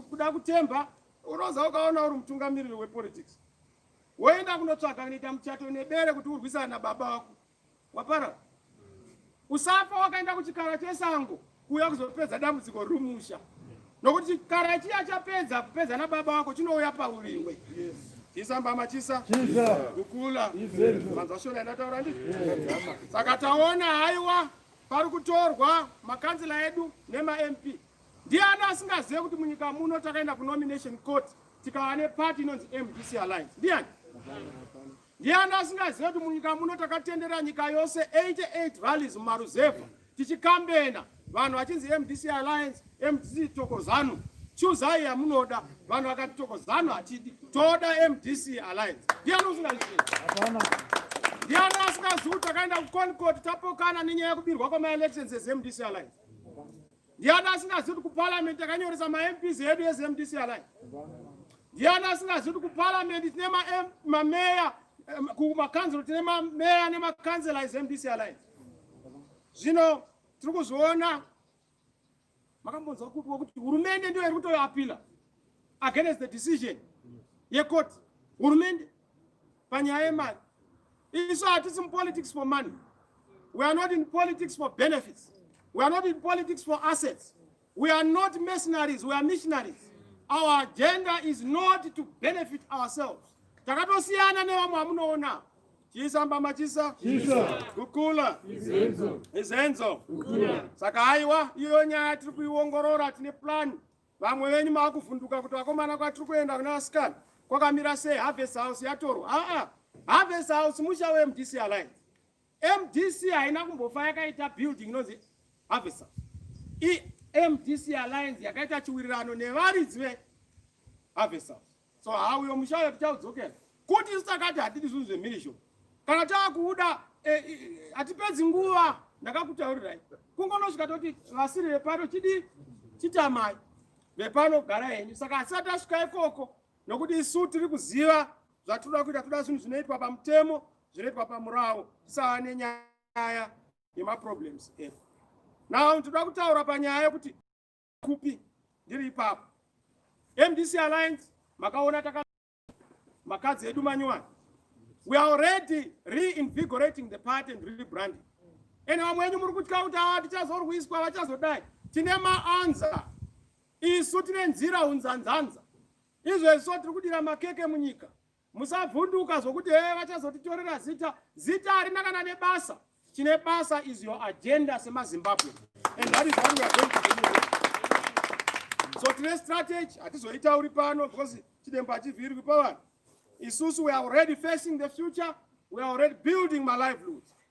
kuda kutemba Unoza ukaona uri mutungamiriri wepolitics woenda kunotsvaga kunoita muchato nebere kuti urwisana nababa wako wapara usafa wakaenda kuchikara chesango kuuya kuzopedza dambudziko rumusha nokuti chikara chiya chapedza kupedza nababa wako chinouya pauriwe chisa mbama chisa kukula manzwa shona inataura ndi saka taona haiwa pari kutorwa makanzila edu nemamp Ndiani asingazive kuti munyika muno takaenda kunomination court tikava nepati inonzi MDC Alliance? Ndiani? Ndiani asingazive kuti munyika muno takatendera nyika yose 88 valleys mumaruzevha tichikambena vanhu vachinzi MDC Alliance, MDC Tokozano, chuzai yamunoda. Vanhu vakati Tokozano hatidi, toda MDC Alliance. Ndiani usingazive? Ndiani asingazive kuti takaenda kuConcord tapokana nenyaya yekubirwa kwamaelections eMDC Alliance? Ndiani asingazivi kuti kuparliament takanyoresa maMPs edu eZMDC alai? Ndiani asingazivi kuti kuparliament tine mameya kumakanzuro tine mameya nemakanzela eZMDC alai? Zvino tiri kuzviona makambonzwa kupiwa kuti hurumende ndiyo iri kutoapila against the decision yekoti hurumende panyaya yemari isu hatisi mupolitics for money we are not in politics for benefits we are not in politics for assets we are not mercenaries we are missionaries our agenda is not to benefit ourselves takatosiyana nevamwe vamunoona chisa mbama chisa kukula izenzo saka haiwa iyo nyaya tiri kuiongorora tine plani Vamwe venyu makuvhunduka kuti vakomana kwatiri kuenda kuna vasikana kwakamira sei harvest house yatorwa aa harvest house musha wemdc alliance mdc haina kumbofa yakaita building inonzi harvest house imdc alliance yakaita chiwirirano nevaridzi veharvest house so how uyo mushaya tichaudzokera kuti isu takati hatidi zvinhu zvemhirizho kana taakuuda eh, eh, eh, hatipedzi nguva ndakakutaurirai kungonosvika toti vasiri vepano chidii chitamai vepano gara henyu saka asati asvika ikoko nokuti isu tiri kuziva zvatinoda kuita toda zvinhu zvinoitwa pamutemo zvinoitwa pamurawo tisava nenyaya yemaproblems edu now tinoda kutaura panyaya yekuti kupi ndiri ipapo mdc alliance makaona taka makadzi edu manyowani we are already reinvigorating the party and rebranding and vamwe enyu muri kutya kuti ava tichazorwiswa vachazodai tine maanza isu tine nzira unzanzanza izvezvo tiri kudira makeke munyika musavhunduka zvokuti hee vachazotitorera zita zita harina kana nebasa chine basa is your agenda semazimbabwe and that is what we are going to do so tine strategy hatizoitauri pano because chidembo hachivhirwi pavanhu isusu we are already facing the future we are already building my livelihoods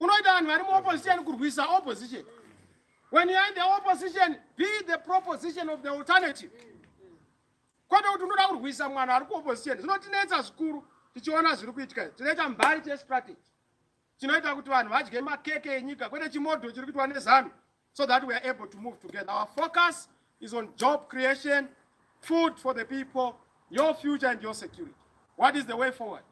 unoita vanhu vari muopposition kurwisa opposition when youare in the opposition be the proposition of the alternative kwete kuti unoda kurwisa mwana ari kuopposition zvinotinetsa zvikuru tichiona zviri kuitika tinoita mbari chestrategy chinoita kuti vanhu vadye makeke enyika kwete chimodho chiri kuitwa nezanu so that we are able to move together. Our focus is on job creation, food for the people, your future and your security. What is the way forward?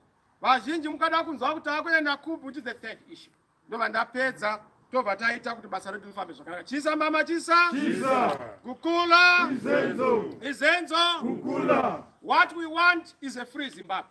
Vazhinji mukada kunzwa kuti akuenda kupi which is the third issue. Ndobva ndapedza tobva taita kuti basa redu rifambe zvakanaka. Chisa mama chisa. Chisa. Kukula. Izenzo. Izenzo. Kukula. What we want is a free Zimbabwe.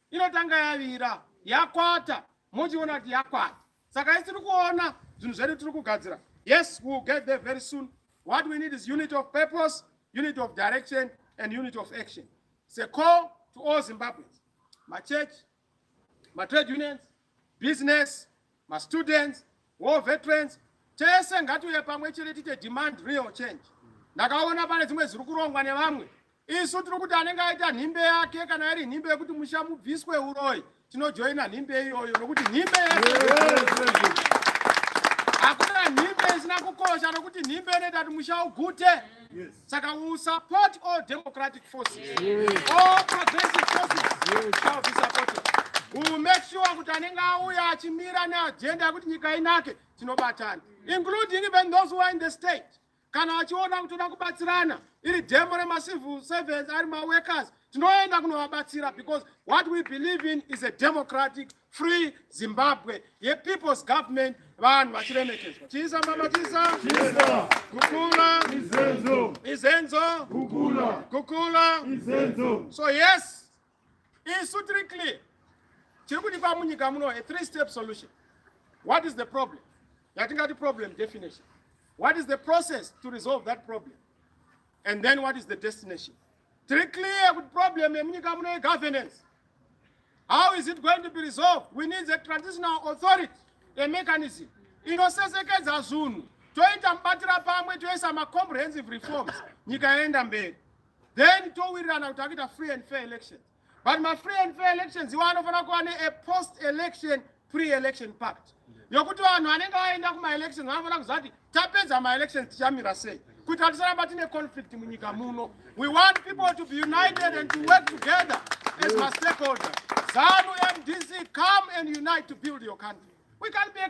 inotanga yavira yakwata mochiona kuti yakwata saka isi tiri kuona zvinhu zvedu tiri kugadzira yes we will get there very soon what we need is unit of purpose unit of direction and unit of action it's a call to all zimbabweans machurch matrade unions business, ma students, war veterans, tese ngatiuye pamwe chete tite demand real change. Ndakaona pane dzimwe ziri kurongwa nevamwe. Isu tiri kuti anenge aita nhimbe yake kana iri nhimbe yekuti musha mubviswe uroyi tinojoina nhimbe iyoyo nokuti nhimbe hakuna nhimbe isina kukosha nokuti nhimbe inoita kuti musha ugute. Saka we will support all democratic forces. Yes. All progressive forces yes. shall be supported. We will make sure kuti anenge auya achimira neagenda yekuti nyika inake tinobatana including even those who are in the state kana vachiona kuti toda kubatsirana iri demo remacivil servants ari maworkers tinoenda kunovabatsira because what we believe in is a democratic Free Zimbabwe ye people's government vanhu vachiremekedzwa chisa mama chisa kukula izenzo izenzo kukula kukula izenzo so yes isu tiri clear chiri kudikwa munyika muno a three step solution what is the problem yatingati problem definition what is the process to resolve that problem and then what is the destination Tiri clear kuti problem yemunyika muno yegovernance. How is it going to be resolved? We need a transitional authority, a mechanism inosesekedza zunhu toita mubatira pamwe toisa macomprehensive reforms nyika yaenda mberi then towirirana kuti akuita free and fair elections but my free and fair elections iwo anofanira kuva ne a post election pre election pact yokuti vanhu vanenge vaenda kumaelections vanofanira kuziva kuti tapedza maelections tichamira sei kuitira tisaramba tine conflict munyika muno we want people to be united and to work together as my stakeholder zanu mdc come and unite to build your country we can be a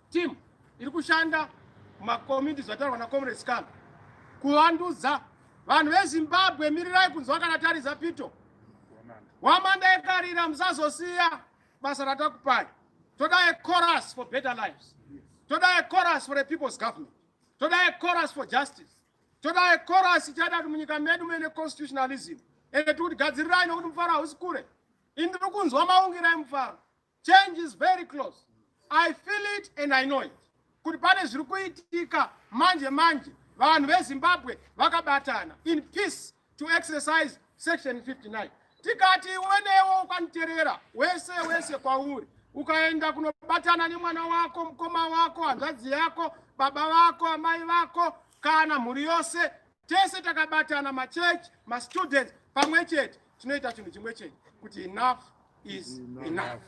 Team iri kushanda makomiti zvataurwa na Comrade Scan kuvandudza vanhu veZimbabwe mirirai kunzwa kana tariza pito wamanda ekarira musazosiya basa ratakupai toda a chorus for better lives toda a chorus for a people's government toda a chorus for justice toda a chorus ichada kuti munyika medu mene constitutionalism ende tikuti gadzirirai nokuti mufaro hausi kure ini ndiri kunzwa maungirai mufaro Change is very close. I feel it and I know it. Kuti pane zviri kuitika manje manje vanhu veZimbabwe vakabatana in peace to exercise section 59. Tikati wenewo ukaniterera wese wese kwauri ukaenda kunobatana nemwana wako, mkoma wako, hanzvadzi yako, baba vako, amai vako kana mhuri yose tese takabatana machurch mastudents pamwe chete tinoita chinhu chimwe chete kuti enough is enough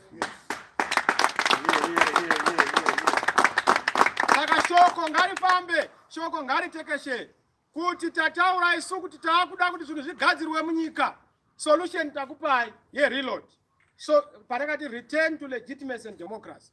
saka shoko ngarifambe shoko ngaritekeshe kuti tataura isu kuti taakuda kuti zvinhu zvigadzirwe munyika solution takupai yereload so patakati return to legitimacy and democracy